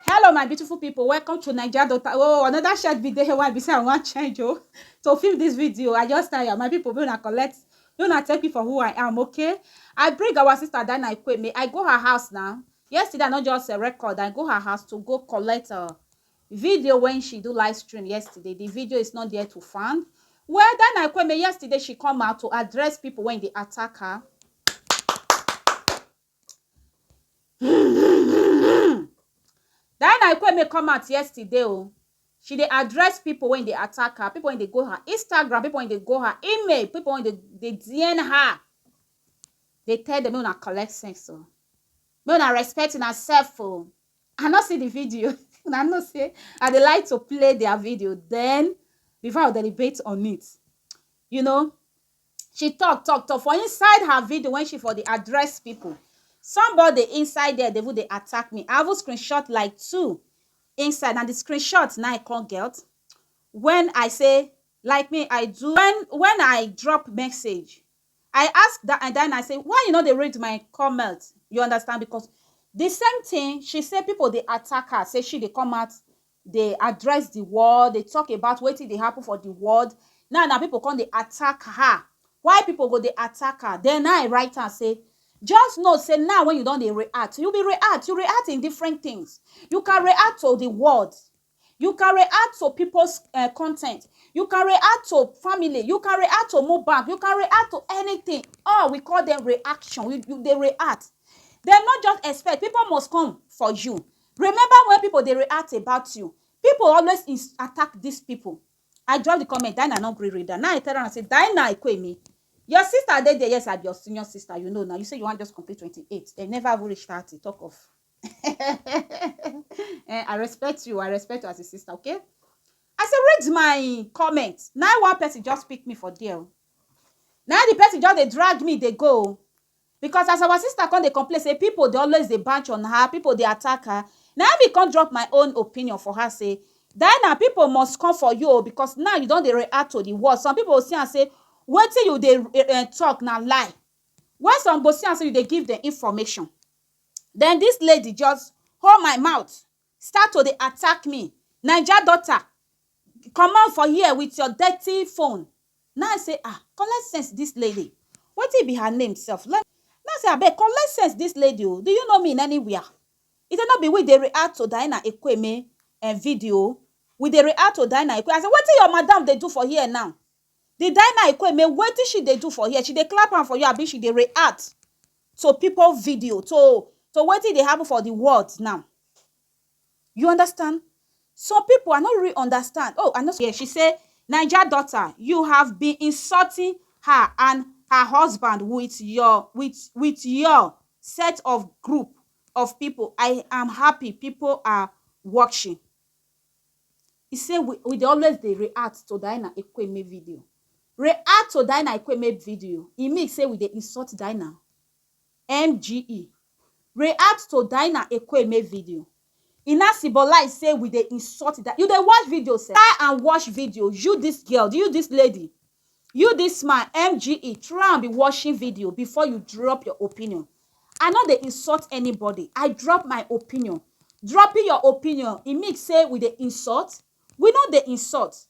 Hello my beautiful people, welcome to Naija Daughter. Oh, another short video here why be say I wan change oh. To film this video, I just tire. My people, make una collect, make una take me for who I am, okay? I bring our sister Dana Ikweme. I go her house now. Yesterday, I not just a record. I go her house to go collect a video when she do live stream yesterday. The video is not there to find. Well, Dana Ikweme, yesterday she come out to address people when they attack her. Diana Ikweme come out yesterday o, she dey address pipo wey dey attack her, pipo wey dey go her Instagram, pipo wey dey go her email, pipo wey dey dey dm her, dey tell dem make una collect sense o, make una respect una self o, I no see di video, una know sey I dey like to play dia video den before I go deliberate on it, you know. she talk talk talk for inside her video when she for dey address people somebody inside there dey even dey attack me i even screenshot like two inside na the screenshot na i come get when i say like me i do when when i drop message i ask that and then i say why you no dey read my comment you understand because the same thing she say people dey attack her say she dey come out dey address the world, dey talk about wetin dey happen for the world. Now na people come dey attack her. Why people go dey attack her? Then na I write am say, just know say now when you don dey react, you be react, you react in different things. You can react to the world, you can react to people's um content, you can react to family, you can react to Mohbad, you can react to anything. All we call dem reaction. You you dey react. Then no just expect, people must come for you. Remember when people dey react about you people always ins attack this people I drop the comment Dinah no gree read am na I tell am say Dinah Ekuemi your sister dey there yes I be your senior sister you know na you say you wan just complete twenty eight dem never even reach thirty talk of eh I respect you I respect you as a sister okay I say read my comment na one person just pick me for there o na the person just dey drag me dey go o Because as our sister come dey complain say people dey always dey banch on her, people dey attack her, na im me come drop my own opinion for her say, Diana, people must come for you o because now you don dey react to the words. Some people go see am say wetin you dey um talk na lie, while some go see am say you dey give dem information. Then this lady just hold my mouth, Start to dey attack me Naija daughter comot for here with your dirty phone Na I say ah collect sense this lady Wetin be her name sef Na I say abeg collect sense this lady oo Do you know me in anywhere He say no be we dey react to Diana Ekwueme eh video We dey react to Diana Ekwueme I say wetin your madam dey do for here now The Diana Ekwueme wetin she dey do for here She dey clap hand for you abi she dey react to people video to to wetin dey happen for the world now you understand some people i no really understand oh i no yeah she say naija daughter you have been insulting her and her husband with your with with your set of group of people i am happy people are watching He say we we dey always dey react to Diana Ekwueme video. React to Diana Ekwueme video, e mean say we dey insult Diana? MGE. React to Diana Ekwueme video, e now symbolize say we dey insult Diana? You dey watch video sef? Try and watch video, you this girl, you this lady, You this man MGE try and be watching video before you drop your opinion. I no dey insult anybody. I drop my opinion. Dropping your opinion, e mean say we dey insult? We no dey insult.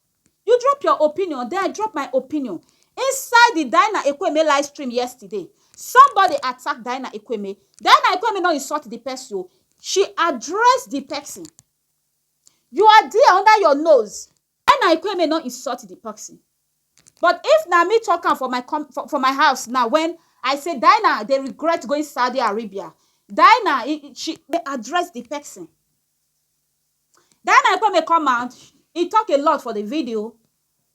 You drop your opinion, then I drop my opinion. Inside the Dinah Ekweme live stream yesterday, somebody attack Dinah Ekweme. Dinah Ekweme no insult the person. She address the person. You are there under your nose. Enna Ekwueme no insult di person but if na me talk am for my for my house now when I say Daina dey regret going Saudi Arabia, Daina she dey address di person. Daina Ekwueme come out e talk a lot for di video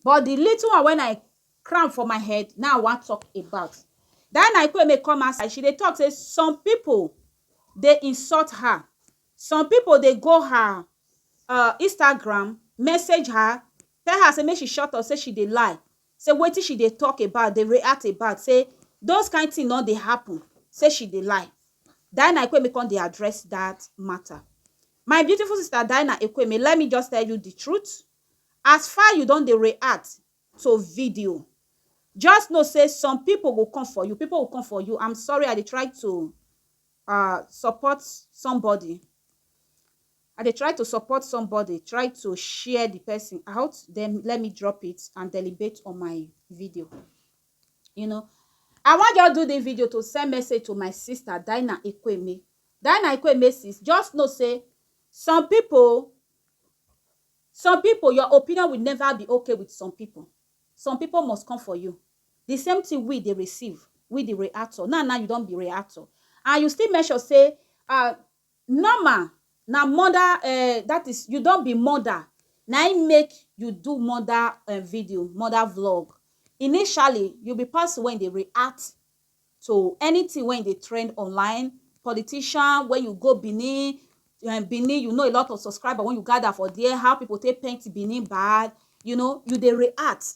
but di little one when I cram for my head na I wan talk about. Daina Ekwueme come outside she dey talk say some people dey insult her. Some pipo dey go her um Instagram, message her, tell her say make she shut up, say she dey lie, say wetin she dey tok about, dey react about, say those kain tin no dey happun, say she dey lie. Diana Ekweme come dey address dat mata. My beautiful sister Diana Ekweme, let me just tell you di truth, as far you don dey react to video, just know say some pipo go come for you, pipo will come for you, am sorry, I dey try to ah support somebody I dey try to support somebody try to share the person out then let me drop it and deliberate on my video you know I wan just do this video to send message to my sister Dinah Ekweme Dinah Ekweme sis just know say some people some people your opinion will never be okay with some people some people must come for you the same thing we dey receive, we the reactor, now now you don be reactor and you still mention sey um normal na murder um that is you don be murder na im make you do murder um video, murder vlog initially you be person wey dey react to anything wey dey trend online, politician when you go Benin um Benin you know a lot of subscribers wey you gather for there, how people take paint Benin bad you know you dey react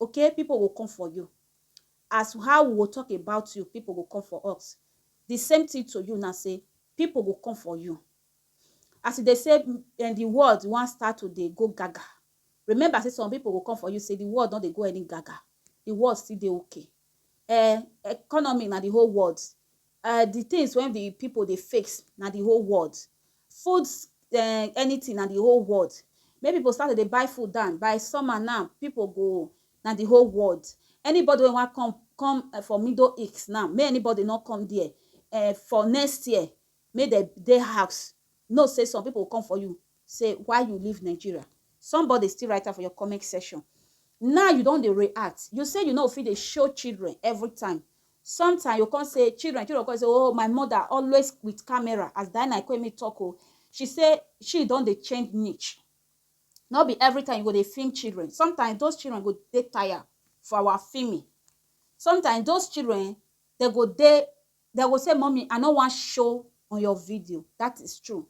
Ok people go come for you as how we go talk about you people go come for us the same thing to you now say people go come for you as you dey say and the world wan start to dey go gaga remember say some people go come for you say the world no dey go any gaga the world still dey okay eh economy na the whole world um di tins wey di pipu dey face na di whole world. Food um anytin na di whole world. Make pipu start to dey buy food down, by summer now, pipu go na di whole world. Anybody wey wan come come for Middle East now, make anybody no come there. um For next year, make dem dey house. Know say some people go come for you say why you leave Nigeria somebody still write am for your comment section now you don dey react you say you no fit dey show children every time sometime you come say children children come say oh my mother always with camera as Diana Ekwemi talk oh she say she don dey change niche no be every time you go dey film children sometimes those children go dey tire for our filming sometimes those children they go dey Dem go say mummy I no wan show on your video that is true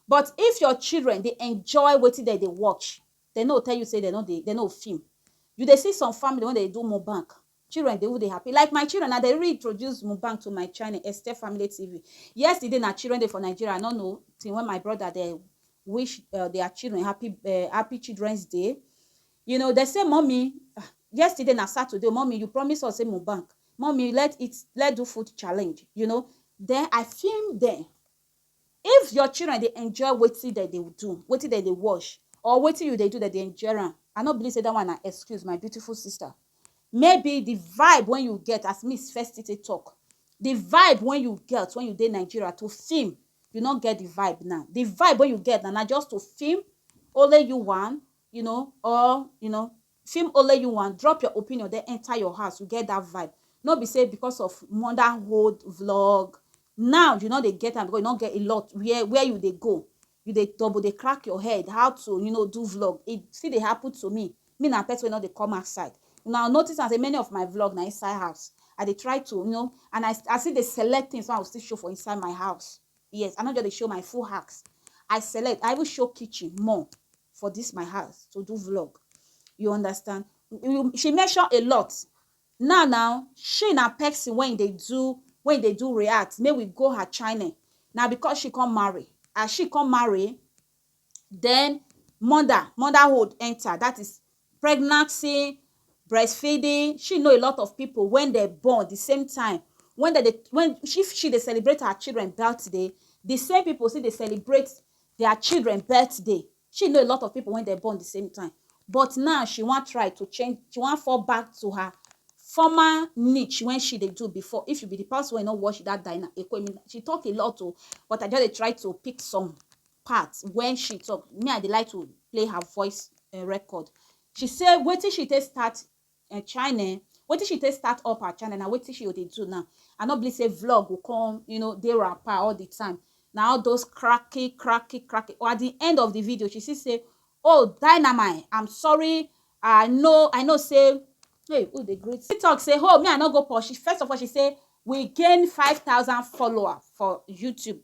but if your children dey enjoy wetin dem dey watch dem no go tell you say dem no dey dem no go film you dey see some family wey dem dey do mukbang children dey even dey happy like my children na dem even introduce mukbang to my channel Esther family TV yesterday na children day for Nigeria I no know till when my brother dem wish their children happy children's day You know, dem say mummy ah, yesterday na Saturday, mummy you promise us say Mubank, mummy let eat, let do food challenge, you know. Then I film dem. If your children dey enjoy wetin dem dey do, wetin dem dey watch, or wetin you dey do dem dey enjoy am, I no believe say that one na excuse, my beautiful sister. Maybe the vibe wey you get as me first still take talk, the vibe wey you get when you dey Nigeria to film, you no get the vibe now. The vibe wey you get na na just to film only you one, you know or you know film only you wan drop your opinion then enter your house you get that vibe no be say because of motherhood vlog now you no dey get am because you no get a lot where where you dey go you dey double dey crack your head how to you know do vlog e still dey happen to me me na person wey no dey come outside una notice am say many of my vlog na inside house i dey try to you know and i, I still dey select things wey i go still show for inside my house Yes, I no just dey show my full house. I select, I even show kitchen more for this my house to do vlog. You understand? You, she mention a lot. Now, now, she na person when they do, when they do react, may we go her channel. Now, because she come marry, as she come marry, den mother, motherhood enter dat is pregnancy, breastfeeding, she know a lot of pipu wen dem born di same time wen dem dey wen if she dey celebrate her children birthday di same pipu still dey celebrate dia children birthday she know a lot of pipu wey dem born di same time but now she wan try to change she wan fall back to her former niche wey she dey do before if you be di person wey you no watch dat dinner ekwoemi she talk a lot o but I just dey try to pick some part wen she talk me I dey like to play her voice um record she say wetin she take start um china um wetin she take start up her china na wetin she go dey do now I no believe say vlog go come you know dey wrapper all the time na all those cracking cracking cracking or at the end of the video she still say oh dynamite I'm sorry I know I know say hey who dey greet she talk say oh me I no go post first of all she say we gain five thousand followers for YouTube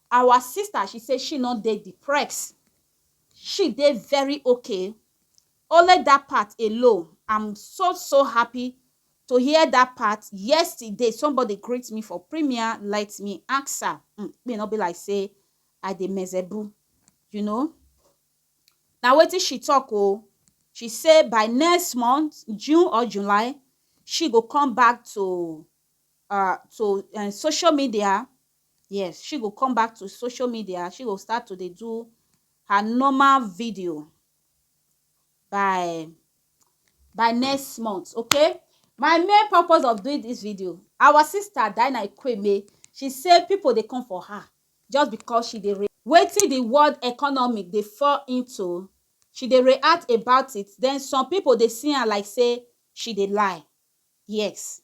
Our sister she say she no dey deprex she dey very ok only that part alone am so so happy to hear that part yesterday somebody greet me for premier let me ansa um me no be like say I dey mezebu you know na wetin she talk o she say by next month June or July she go come back to uh to um social media Yes, she go come back to social media, she go start to dey do her normal video by by next month, okay? My main purpose of doing this video, our sister Dinah Ikweme, she say people dey come for her just because she dey re wetin the world economy dey fall into, she dey react about it, then some people dey see am like say she dey lie. Yes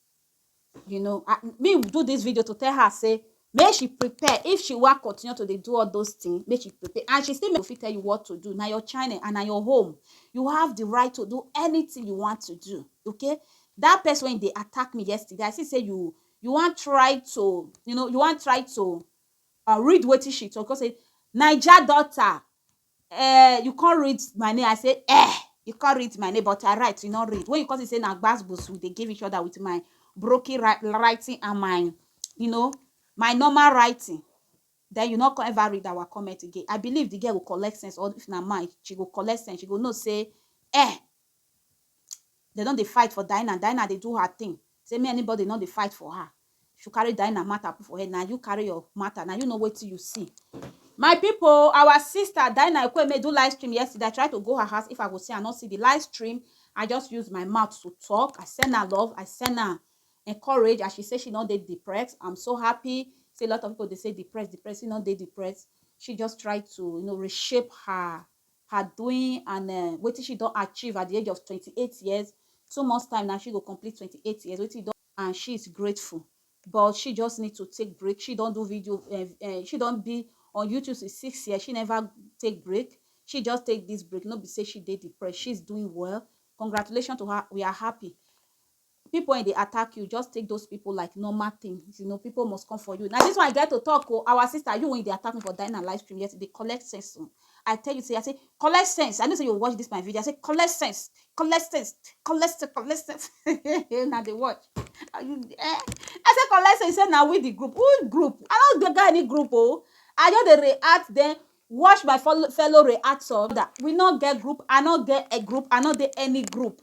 you know I, me do this video to tell her say make she prepare if she wan continue to dey do all those things make she prepare and she still make fit tell you what to do na your channel and na your home you have the right to do anything you want to do okay that person when they attack me yesterday i see say you you wan try to you know you wan try to uh, read wetin she talk because say naija daughter Eh, you come read my name, I say eh, you come read my name, but I write, you no read. When you come see say na gbasgbos we dey give each other with my broken wri- writing and my, you know, my normal writing, then you no come ever read our comment again. I believe the girl go collect sense, or if na man, she go collect sense, she go know say eh, Dem don dey fight for Dinah, Dinah dey do her thing say make anybody no dey fight for her. If you carry Dinah matter put for head, na you carry your matter, na you know wetin you see. My people, our sister Dinah Ekueme do live stream yesterday, I try to go her house if I go see am, I no see the live stream, I just use my mouth to talk, I send her love, I send her encourage as she say she no dey depressed, I'm so happy say a lot of people dey say depressed, depressed, she no dey depressed, she just try to you know reshape her her doing and um wetin she don achieve at di age of twenty eight years, two months time na she go complete twenty eight years wetin don and she is grateful but she just need to take break she don do video um um she don be on YouTube since six years she never take break she just take this break no be say she dey depressed she is doing well congratulations to her we are happy. People wen dey attack you just take those people like normal thing you know people must come for you na this one i get to talk o our sister you wen you dey attack me for dying and live stream yet you dey collect sense o i tell you say i say collect sense i know say you watch this my video i say collect sense collect sense collect sense collect sense una dey watch are you um i say collect sense you say na we the group who group i no dey get any group o i just dey react then watch my fellow reactor we no get group i no get a group i no dey any group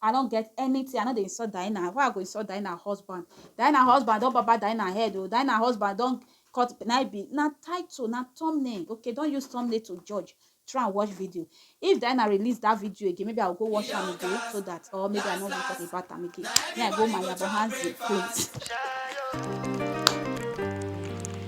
I no get anything, I no dey insult Diana, why I go insult Diana husband, Diana husband don barber Diana head oo, Diana husband don cut, na im be, na title, na thumbnail, okay don use thumbnail to judge, try and watch video, if Diana release that video again maybe I will go watch am again so that or maybe I no go talk about am again, me I go my yabo hands dey clean.